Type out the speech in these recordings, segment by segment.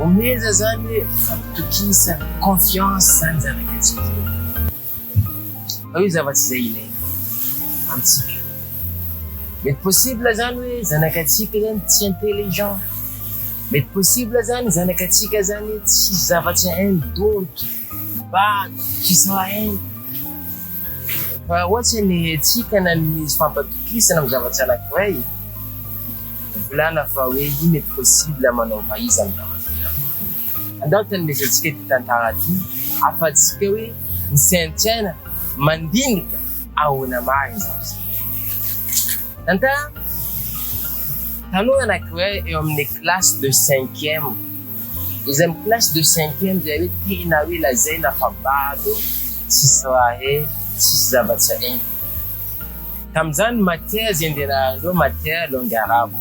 Omeza zany hoe fahatokisana, confiance zany zava-kantsika zay. Fa io zavatra izay ilaina amintsika. Mety possible zany hoe zanakatsika zany tsy intelligent, mety possible zany zanakatsika zany tsisy zavatra hainy donto. Mba izahay fa ohatry ny hetsika na ny misy fampatokisana amin'ny zavatra anankiray, volana fa hoe ino et possible manaova iza amin'ny zavatra iray. Andao tanindresantsika ity tantara ity afatsika hoe misaintsaina mandinika ahoana marina izany zavatra. Tantara, tanora anankiray eo amin'ny classe de cinquième. Izay am classe de cinquième zay hoe tena hoe lazaina fa bado, tsisy raha hay, tsisy zava-tsaina. Tamin'izany matière zay nianarahandreo matière langue arabe.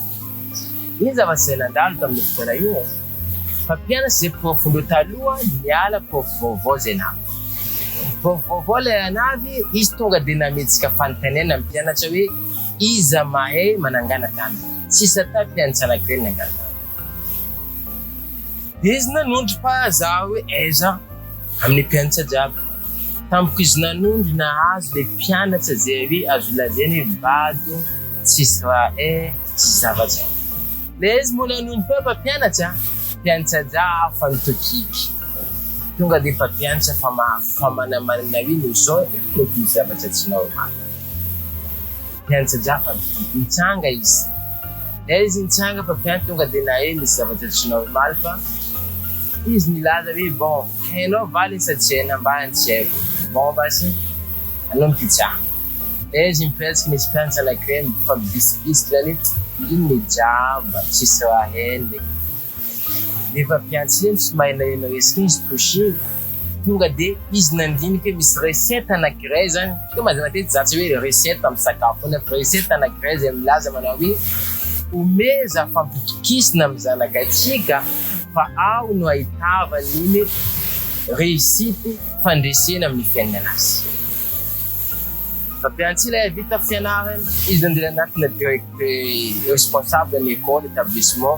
Ino zava-tsaina nandalo tamin'io fotoana io e? Fa mpianatra zay profondreo taloha niala prof vaovao zay navy. Prof vaovao lay anavy, izy tonga de nametsika fanontaniana ny mpianatra hoe iza mahay manangana tany. Tsisy atao mpianatsa anankiray ny nangana tany. Izy nanondro fa zah hoe aiza amin'ny mpianatsa jiaby. Tamiko izy nanondro nahazo le mpianatsa ze avi azo lazaina hoe bado tsisy raha e tsisy zavatra. Le izy moa nanondro fa mpampianatsa mpianatsa jiaby fa ny tokiky tonga de mpampianatsa fa fa manamarina hoe no zao no diso zavatra tsy normal. Mpianatra Japana, Nitsanga izy. Dia izy nitsanga fa mpianatra tonga dia nahay nisy zavatra tsinao omaly fa izy nilaza hoe bon hainao va le sady tsy hainao mba ny tsy haiko bon basy anao ny pizza dia izy mipetraka nisy mpianatra anankiray mifampibisikibisika zany hoe inona e jamba tsisy raha hainy le Rehefa avy niantsena tsy mahaela ela resaka izy touché tonga de izy nandinika hoe misy recette anankiray zany teo mazava matetika za tsy hoe recette amin'ny sakafo foana fa recette anankiray izay milaza manao hoe omeza fampitokisina amin'ny zanakatsika fa ao no ahitavany iny réussite fandresena amin'ny fiainana azy fampiantsy ilay vita fianarana izy nandeha anatina direct responsable ny école établissement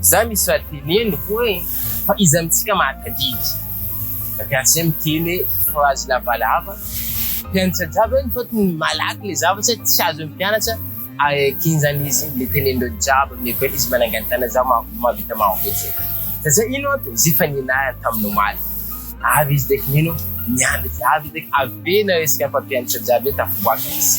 Za misy raha teneniko hoe fa iza amintsika mahatadidy? Gazem miteny hoe phrase lavalava, mpianatra jiaby hoe mitaoty ny malaky le zavatra hoe tsy azon'ny mpianatra aekin zany izy le teneninreo jiaby amin'ny école izy manangany tana za mahavita marobe satria ino antony izy efa nianarany tamin'ny omaly avy izy dek mino mianatra avy izy dek avy be nareo isika mpampianatra jiaby hoe tafiboaka izy.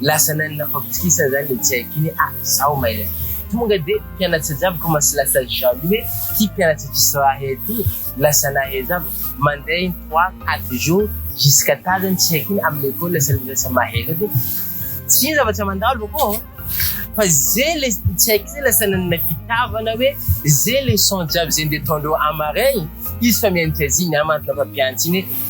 Lasa nani nampapitokisana zany le tsy haiko iny ah zaho maina e! Tonga de mpianatsa jiaby commence lasa jaloux hoe ty mpianatsa tsisy raha hay ty lasa nahay zava mandeha in trois quatre jours jusqu'à tard zany tsy haiko iny am lekôly lasa lasa mahay zao de tsy ino zava tsy mandalo akao an! Fa ze le tsy haiko zay lasa nanana fitiavana hoe ze leçon jiaby ze nde ataondreo am marin iny izy fa mianatra ziny am antona mpampianatsa iny hoe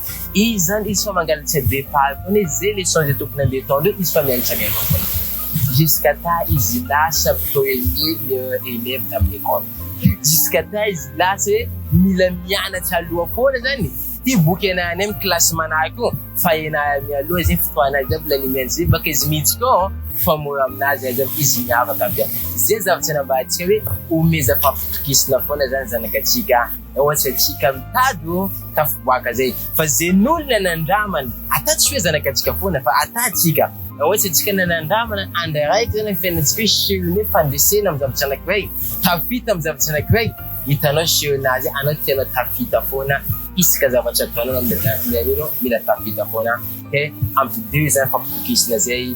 Izy zany izy fa mangalatra be paly foana izy ze leçon ze tokony ande atao ndreo izy fa mianatra mianatra foana jusqu'à ta izy lasa premier élève tamin'ny école jusqu'à ta izy lasa hoe mila mianatra aloha foana zany ty boky ena any amin'ny classe manahy ko fa ena mialoha ze fotoana azy aby lanimiany ze baka izy mihitsy ko fa mora aminazy aza aby izy miavaka aby ze zavatra nambarantsika hoe omezam-pampitokisina foana zany zanakatsika Ao antsaintsika mitady ô tafiboaka zay fa zen'olona nandramana ata tsy hoe zanakatsika foana fa ata tsika. Ao antsaintsika na nandramana andra araiky zany ny fiainantsika hoe sehone fandresena am zavatra anakiray, tafita am zavatra anakiray, hitanao sehonazy anao tianao tafita foana isaka zavatra ataonao na mihaino anao mila tafita foana, ok, ampidiro zany fampitokisana zay.